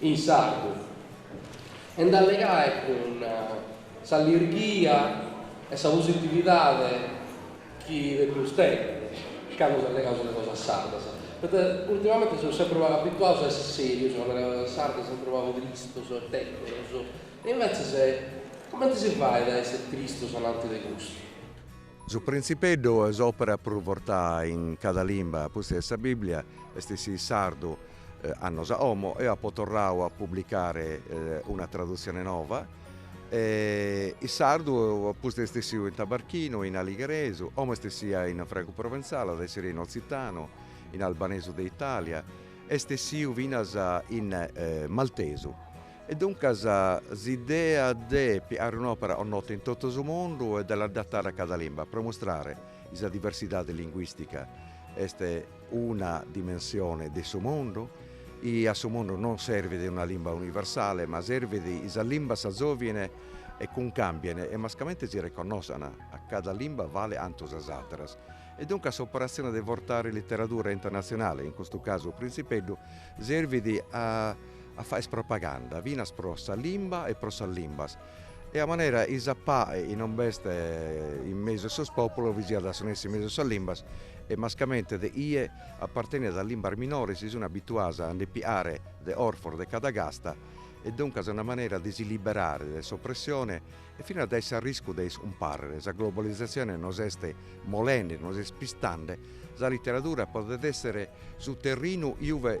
in sardu e nd'allegai cun s'allirghia e sa positividade chi depius tenni candu allegaus de cosas sardas, poita ultimamenti seus sempri pagu abituaus a essi serius candu allegaus cosas sardas, sempri pagu tristus e tèteros, e invetzes cumenti si fait a essi tristus ananti de custu? Su Printzipeddu est s'òpera prus vortaa in cada limba, pustis de sa Bìblia, est essiu in sardu, Annos a omo eo apo torradu a publicare una tradutzione nova e in sardu pustis est essiu in tabarchinu, in aligheresu, omo est essia in francu proventzale, at a essire in otzitanu, in albanesu de Italia, est essiu finas in maltesu e duncas s'idea de piare un'opera nota in totu su mundu e de l'adattare a cada limba pro mustrare sa diversidade linguistica est una dimensione de su mundu, i a su mundu non servit una limba universale, ma servit i sas limbas s'azovien e cuncambien e mascamente si reconnosan, a cada limba vale antu sas ateras. E duncas s'operatzione de vortare literadura internazionale, in custu casu Printzipeddu, servit a fàere propaganda finas pro sa limba e pro sas limbas, E a manera i sa pae non b'est in mesu 'e sos pòpulos vi siat a su nessi in mesu 'e sas limbas e mascamente de ie apartenit a limbas minores si sun abituados a nde piare de orfos de cada casta e duncas una manera de si liberare dae s'opressione e finas dae s'arriscu de iscumparrer. Sa globalizatzione nos est molende, nos est pistande, sa literadura podet èssere su terrinu iue